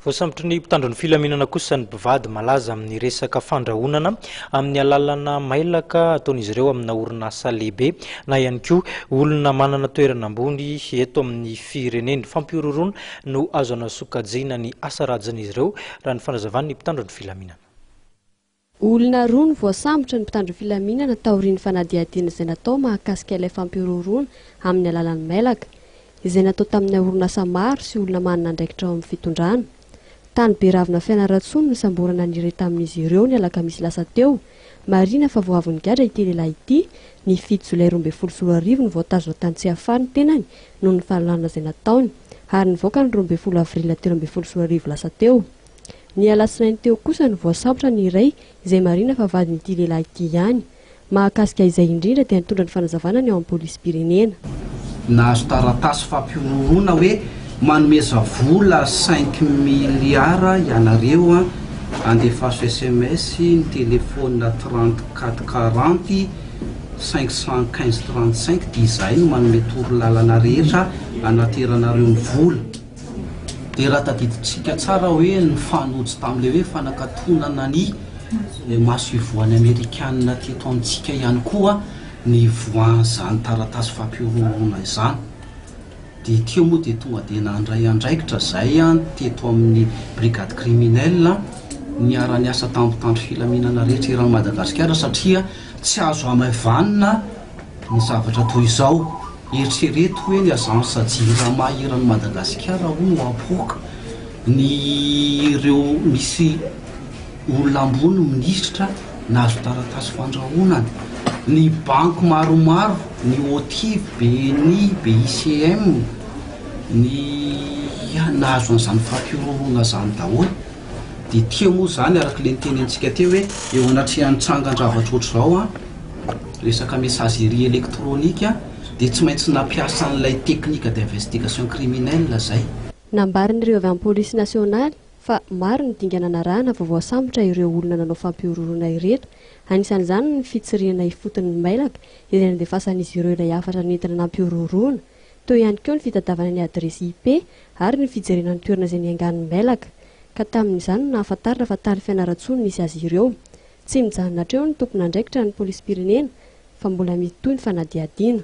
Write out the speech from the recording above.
Voasambotry ny mpitandro ny filaminana kosa ny mpivady malaza amin'ny resaka fandrahonana amin'ny alalana mailaka ataon'izy ireo amina orinasa lehibe na ihany koa olona manana toerana ambony eto amin'ny firenena. Fampihorohoroana no azo anasokajiana ny asa rajin'izy ireo, raha ny fanazavan'ny mpitandro ny filaminana. Olona roa no voasambotra ny mpitandro filaminana taorian'ny fanadihadiana izay natao mahakasika ilay fampihorohoroana amin'ny alalan'ny mailaka, izay natao taminay orinasa maro sy olona manana andraikitra ao amin'ny fitondrana. Tany Beravina Fianarantsoa no nisamborana ny iray tamin'izy ireo ny alakamisy lasa teo. Marihina fa vao avy nigadra ity lehilahy ity, ny fito jolay roa ambin'ny folo sy roa arivo no voatazona tany Tsiafahy ny tenany noho ny fanolanana izay nataony, ary nivoaka ny roa ambin'ny folo avril telo ambin'ny folo sy roa arivo lasa teo. Ny alatsinainy teo kosa no voasambotra ny iray izay marihina fa vadin'ity lehilahy ity ihany. Mahakasika izay indrindra dia nitondra ny fanazavana ny ao amin'ny polisim-pirenena. Nahazo taratasy fampihorohoroana hoe manomeza vola cinq milliards ianareo an, andefaso sms ny telephone trente quatre quarante cinq cent quinze trente cinq dia izahay no manome torolalana rehetra hanateranareo ny vola. Dia raha tadidintsika tsara hoe ny fanojo tamin'ilay hoe fanakatonana ny maso ivohan'ny Amerikana teto amintsika ihany koa ny ivoahan'izany taratasy fampihorohoroana izany. Dia ity eo moa dia tonga dia nandray andraikitra izay teto amin'ny brigade criminelle niara-niasa tamin'ny mpitandro filaminana rehetra eran'i Madagasikara satria tsy azo hamaivanina ny zavatra toy izao. Eritrereto hoe ny agence Jirama eran'i Madagasikara hono no apoaka ny ireo misy olona ambony minisitra nahazo taratasy fandrahonana. Ny banky maromaro, ny OTI, BNI, BICM, ny ia nahazo an'izany fampihorohoroana izany daholo. Dia tia moa izany araka ilay niteny antsika teo hoe eo anatrehan'ny tsangan-javatra ohatr'izao an. resaka messagerie électronique dia tsy maintsy nampiasa an'ilay technique d'investigation criminelle izay. Nambarin'ireo avy amin'ny polisy nasionaly fa maro ny dingana narahana vao voasambotra ireo olona nanao fampihorohoroana ireto, anisan'izany ny fitsirihana ifotony ny mailaka izay nandefasan'izy ireo ilay hafatra nentina nampihorohoroana, teo ihany koa ny fitadiavana ny adiresy IP ary ny fijerena ny toerana izay niangan'ny mailaka ka tamin'izany no nahafantarina fa tany Fianarantsoa no nisy azy ireo. Tsy mijanona hatreo ny tompon'andraikitra ny polisim-pirenena fa mbola mitohy ny fanadihadiana.